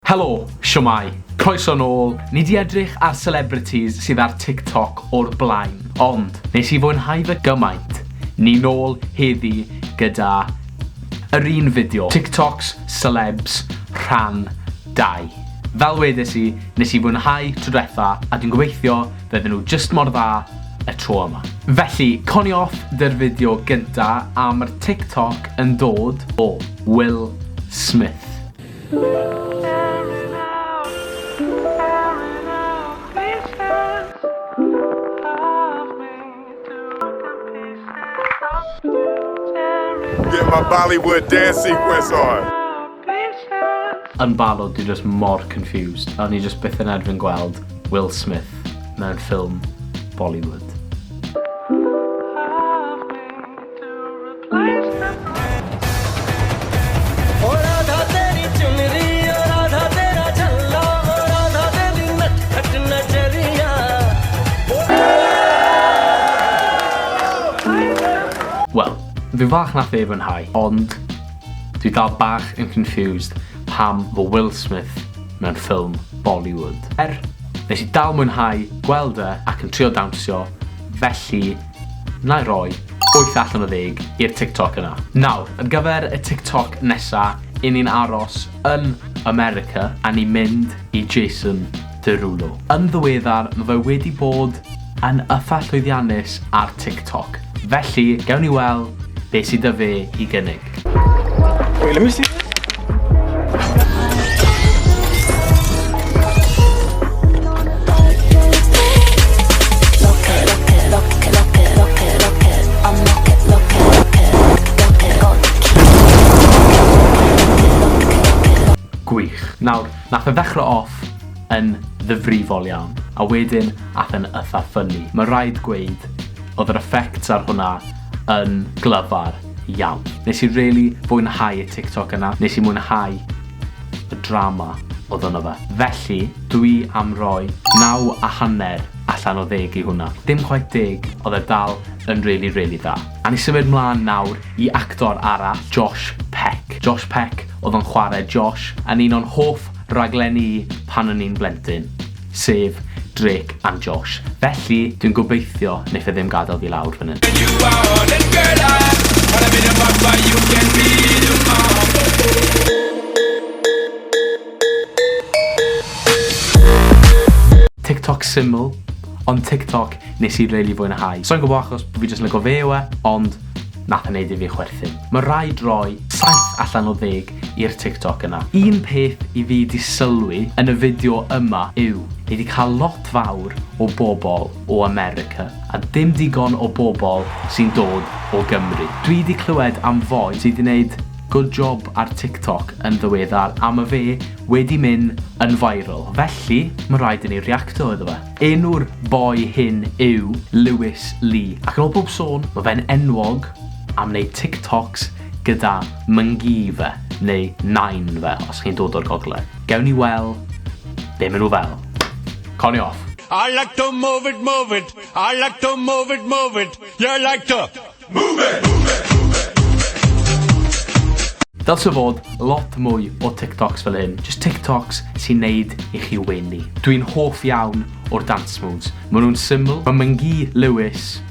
Helo! Shwmae! Croeso nôl! Ni 'di edrych ar celebrities sydd ar TikTok o'r blaen, ond nes i fwynhau fe gymaint, ni nôl heddi gyda yr un fideo, TikToks, Celebs, rhan dau. Fel wedes i, nes i fwynhau tro dwetha a dwi'n gobeithio fydden nhw jyst mor dda y tro yma. Felly, coni off 'dy'r fideo gynta a ma'r TikTok yn dod o Will Smith. Get my Bollywood dance sequence on. Yn barod, dwi just mor confused. O'n i just byth yn erfyn gweld Will Smith mewn ffilm Bollywood. Wel, fi falch nath ei fwynhau, ond dwi dal bach yn confused pam fo Will Smith mewn ffilm Bollywood. Er, nes i dal mwynhau gweld e ac yn trio dawnsio, felly Nai roi wyth allan o ddeg i'r TikTok yna. Nawr, ar gyfer y TikTok nesa, i ni'n aros yn America a ni'n mynd i Jason Derulo. Yn ddiweddar, ma fe wedi bod yn ytha llwyddiannus ar TikTok, felly gewn ni wel be sy 'da fe i gynnig. Wait, let me see this. Nawr, nath e ddechrau off yn ddyfrifol iawn, a wedyn ath e'n ytha ffynnu. Mae rhaid gweud, oedd yr effects ar hwnna yn glyfar. iawn. Nes i rili fwynhau y TikTok yna, nes i mwynhau y drama odd yno fe. Felly, dwi am roi naw a hanner allan o ddeg i hwnna. Dim chwaith deg, odd e dal yn rili rili dda. A ni symud mlan nawr i actor arall, Josh Peck. Josh Peck odd yn chware Josh yn un o'n hoff raglenni i pan o'n i'n blentyn. sef Drake and Josh, felly dwi'n gobeithio neith e ddim gadael fi lawr fan hyn. TikTok syml, ond TikTok nes i rili fwynhau. Sai'n gwybod achos fi jyst yn lygo fe yw e, ond nath e neud i fi chwerthin. Mae rhaid rhoi 7 allan o 10 i'r TikTok yna. Un peth i fi 'di sylwi yn y fideo yma yw ni 'di cael lot fawr o bobl o America a dim digon o bobl sy'n dod o Gymru. Dwi 'di clywed am foi sy 'di 'neud good job ar TikTok yn ddiweddar a ma fe wedi myn yn viral felly ma raid i ni reacto iddo fe. Enw'r boi hyn yw Lewis Lee ac yn ol pob sôn ma fe'n enwog am 'neud TikToks gyda myngi fe, neu nain fe, os chi'n dod o'r gogledd. Gewn ni wel be maen nhw fel. Conio off! I like to move it, move it. I like to move it, move it. You like to move it, move it, move it, move it. Dylse fod lot mwy o TikToks fel hyn, just TikToks sy'n neud i chi wenu. Dwi'n hoff iawn o'r dance moves. Maen nhw'n syml, mae Myngi Lewis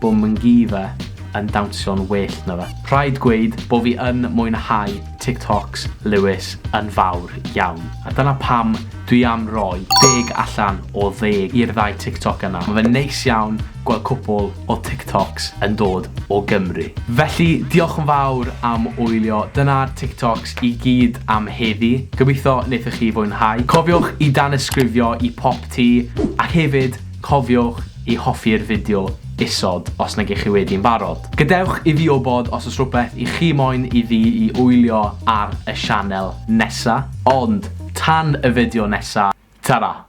Bo Mngiva yn dawnsio'n well na fe. Rhaid gweud bo fi yn mwynhau TikToks Lewis yn fawr iawn. A dyna pam dwi am roi deg allan o ddeg i'r ddau TikTok yna. Ma fe'n neis iawn gweld cwpwl o TikToks yn dod o Gymru. Felly diolch yn fawr am wylio. Dyna'r TikToks i gyd am heddi. Gobeithio nethoch chi fwynhau. Cofiwch i danysgrifio i Pop Tee ac hefyd, Cofiwch i hoffi'r fideo isod os nag 'ych chi wedi'n barod. Gadewch i fi wybod os oes rhywbeth i chi moyn i fi i wylio ar y sianel nesa. Ond tan y fideo nesa, tara!